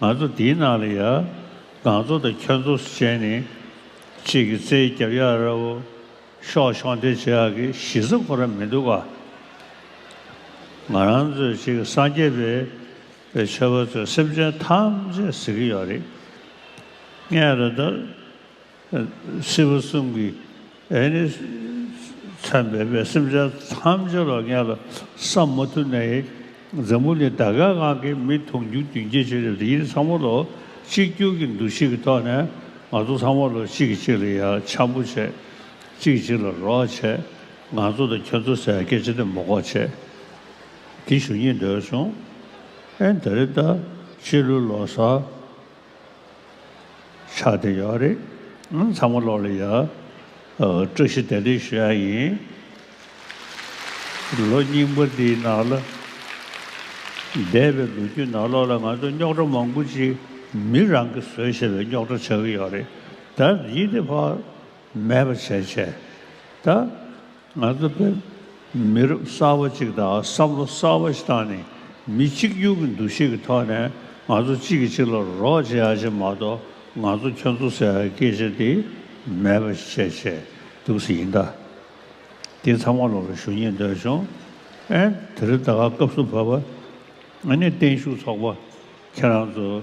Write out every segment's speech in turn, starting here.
ང་ཚོ་འདིའི་ནང་ལ་ཡ། གངས་ཚོ་དང་ཁྱོད་ཚོ་སུ་བྱས་ནས། གཅིག་གི་རྩེའི་རྒྱབ་ཡ་ར་བོ། ཤོག་ཤོག་འདི་བྱས་ཨ་ཀི་གཞི་རྩ་ཁོ་ར་མི་འདུག་ཨ། ང་རང་ཚོའི་གཅིག་གི་སངས་རྒྱས་པའི་པའི་ཆོས་པ་ཚོས་སེམས་ཅན་ཐམས་ཅད་གཟིགས་ཀི་ཡོད་རེད། ངས་རེ་ད། སྲིད་པ་གསུམ་གྱི་ཨེ་ནི་མཚམས་སྦས་པའི་སེམས་ཅན་ཐམས་ཅད་ལ་ངས་ལ་བསམ་མ་ཐུབ་ནས་འཛམ་བུ་ནི་ད་གའི་ངང་གིས་མི་མཐོང་རྒྱུ་རྒྱུན་སྐྱེ་བྱེད་ལས་ཡིད་ཚང་མ་ལོ་གཅིག་གྱུར་གྱི་འདུ་ཤེས་ཀྱི་ཐོག་ནས་ང་ཚོ་ཚང་མ་ལོ་གཅིག་གིས་གཅིག་ལ་ཡ་འཆམ་པོ་བྱེད་གཅིག་གཅིག་ལ་རོགས་བྱེད་ང་ཚོ་དང་ཁྱོད་ཚོ་ཟེར་སྐད་ཅིག་དེ་མོ་ཀོ་བྱེད་དེ་ཞུ་ཉེན་འདོད་བྱུང་ཨེ་ད་རེ་ད་ཕྱི་ལོའི་ལོ་སར་ཆགས་བསྡད་ཡོད་རེད་ཨང་ཚང་མ་བློ་ལ་ཡ། བཀྲ་ཤིས་བདེ་ལེགས་ཞུ་ཡ་ཡིན། ལོ་རྙིང་པ་འདིའི་ནང་ལ་འདས་པའི་ལོ་རྒྱུས་ནང་ལོགས་ལ་ང་ཚོ་རྙོག་དྲ་མང་པོ་ཅིག་མི་རང་གིས་བཟོས་ཞེས་པའི་རྙོག་དྲ་ཆགས་ཀྱི་ཡོད་རེད་ད། ཡིད་བདེ་བག་མེད་པ་བྱས་བྱས་ད། ང་ཚོ་བོད་མི་རབས་གསར་བ་ཅིག་དང་བསམ་བློ་གསར་བ་ཞིག་བཏང་ནས་མི་གཅིག་གྱུར་གྱི་འདུ་ཤེས་ཀྱི་ཐོག་ནས་ང་ཚོ་གཅིག་གིས་གཅིག་ལ་རོགས་བྱེད་ཡག་ཆེ་མ་གཏོགས་ང་ཚོ་ཁྱོད་ཚོ་ཟེར་བའི་སྐད་ཆ་དེ་མེད་པ་བྱས་བྱས་འདུག་ཟེར་ཡིན་ད། དེ་ཚང་མ་ལོག་རེ་ཞུ་ཉེས་འདོད་བྱུང་ཨེ། དེ་རིང་ད་སྐབས་སུ་བབ། ཨ་ནི་བརྟན་བཞུགས་ཚོགས་པ་ཁྱེད་རང་ཚོ།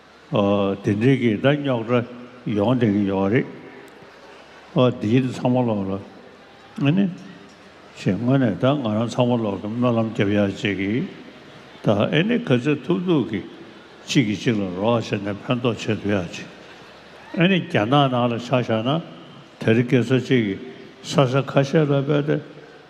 དེ་འདྲའི་གི་ད་རྙོག་དྲ་ཡོང་བསྡད་ཀྱི་ཡོད་རེད། ཨ་འདིའི་ད་ཚང་མ་ལོག་ལ། ཨ་ནི། ཞེས་དངོས་ནས་ད་ང་རང་ཚང་མ་ལོག་གི་སྨོན་ལམ་རྒྱབ་ཡ་བྱེད་ཀྱི། ད་ཨེ་ནི་ག་ཚད་ཐུབ་ཐུབ་ཀྱི་གཅིག་གི་གཅིག་ལ་རོགས་བྱས་ནས་ཕན་ཐོག་བྱེད་འདོད་ཡ་བྱེད། ཨེ་ནི་རྒྱ་ནག་ནང་ལ་ཆ་བཞག་ན་དེར་སྐད་ཚོད་ཅིག་གི་ས་ས་ཁ་ཤས་ལ་བས་ཏེ།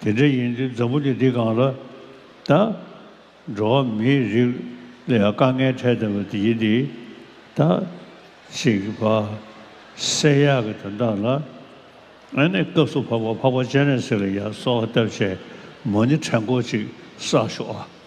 དེ་འདྲ་ཡིན་དུས་འཛམ་བུ་འདི་འདི་གང་ལ་ད། འགྲོ་བ་མིའི་རིགས་ལ་ཡང་དཀའ་ངལ་འཕྲད་བསྡད་པ་དེ་ཡིན་དུས་ད། ཞིག་བ། བསེ་ཡག་གི་དོན་དག་ལ། ཨ་ནི་སྐབས་སུ་བབས་པ་འཕགས་པ་སྤྱན་རས་གཟིགས་ལ་ཡར་སོགས་བལྟ་བྱས་མོ་ནི་ཕྲན་སྐོར་ཅིག་བསགས་ཤོག་ཨ།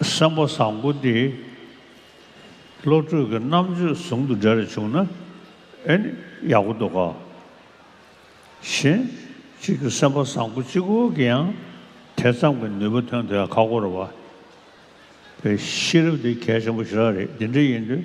བསམ་པ་བཟང་པོ་འདི་བློ་གྲོས་ཀྱི་རྣམ་དཔྱོད་ཟུང་དུ་འབྲེལ་རེ་བྱུང་ན་ཨེ་ནི་ཡག་པོ་འདུག་གོ། གཞན་གཅིག་གི་སེམས་པ་བཟང་པོ་གཅིག་བུ་གི་ཡང་དེ་ཙམ་གྱི་ནུས་པ་ཐོན་དུ་ཡང་ཁག་པོ་རེད་བ། པའི་ཤེས་རབ་འདི་གལ་ཆེན་པོ་ཞེ་དྲག་རེད་འདི་འདྲ་ཡིན་དུས།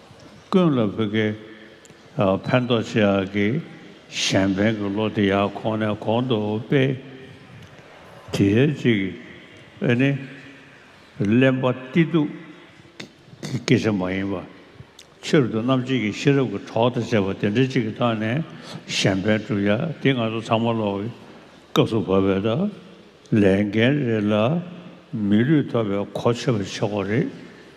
ཀུན་ལ་བུ་གའི་ཕན་ཐོགས་ཆེ་ཡག་གི་གཞན་ཕན་གི་བློ་དེ་ཡག་གོང་ནས་གོང་དུ་སྤེལ། དེའི་གཅིག་ཨེ་ནི། གླེན་པ་སྟི་སྡུག་གི་སྐད་ཆ་མ་ཡིན་པ། ཕྱིར་དུ་རྣམ་འབྱེད་ཀྱི་ཤེས་རབ་ཀྱི་གྲོགས་དང་བཅས་པ་དེ་འདྲ་གཅིག་གི་ཐོག་ནས་གཞན་ཕན་བསྒྲུབ་ཡ་དེ་ང་ཚོ་ཚང་མ་ལོག་གི་སྐབས་སུ་བབས་པས་ད་ལས་འགན་རེད་ལ་མི་ལུས་ཐོབ་པའི་གོ་ཆོད་པ་བྱེད་དགོས་རེད།